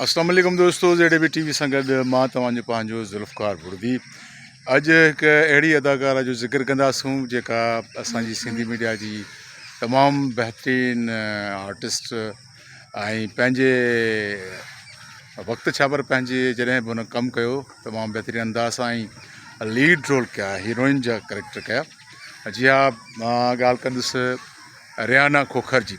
اسلام عليڪم دوستو زيڊي بي ٽي وي سان گڏ مان توهان جو پنهنجو ذوالفقار بڙدي اڄ هڪ اهڙي اداڪاره جو ذڪر ڪنداسون جيڪا اسان جي سنڌي ميڊيا جي تمام بهترين آرٽسٽ ۽ پنهنجي وقت ڇا پر پنهنجي جڏهن به هن ڪم ڪيو تمام بهترين انداز سان ۽ ليڊ رول ڪيا هيروئن جا ڪريڪٽر ڪيا جي ها مان ڳالهه ڪندس ريانا کوکر جي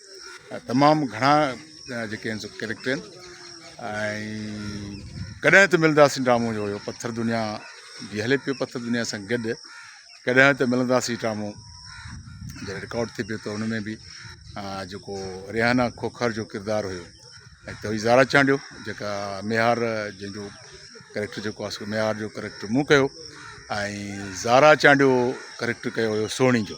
تمام گهڻا جيڪي آهن سو ڪيريڪٽر آهن ۽ ڪڏهن ته ملنداسين ڊرامو جو هيو پٿر دنيا جي هلي پيو پٿر دنيا سان گڏ ڪڏهن ته ملنداسين ڊرامو جڏهن رڪارڊ ٿي پيو ته ان ۾ بي جيڪو ريحانا کوکر جو ڪردار هيو ۽ توي زارا چانڊيو جيڪا ميهار جنهن جو ڪيريڪٽر جيڪو آسو ميهار جو ڪيريڪٽر مون ڪيو ۽ زارا چانڊيو ڪيريڪٽر ڪيو هيو سوڻي جو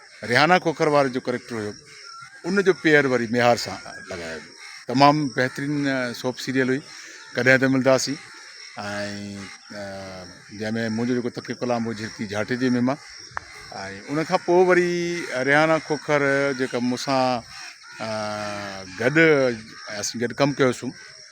ريحانه کوکر وارو جو ڪريڪٽر هيو ان جو پيئر وري ميهار سان لڳايو ويو تمام بهترين سوپ سيريل هئي ڪڏهن ته ملداسين ۽ جنهن ۾ منهنجو جيڪو تقي ڪلام هو جھرڪي جھاٽي جي ميما ۽ ان کان پوء وري ريحانه کوکر جيڪا مون سان گڏ اسين گڏ ڪم ڪيوسون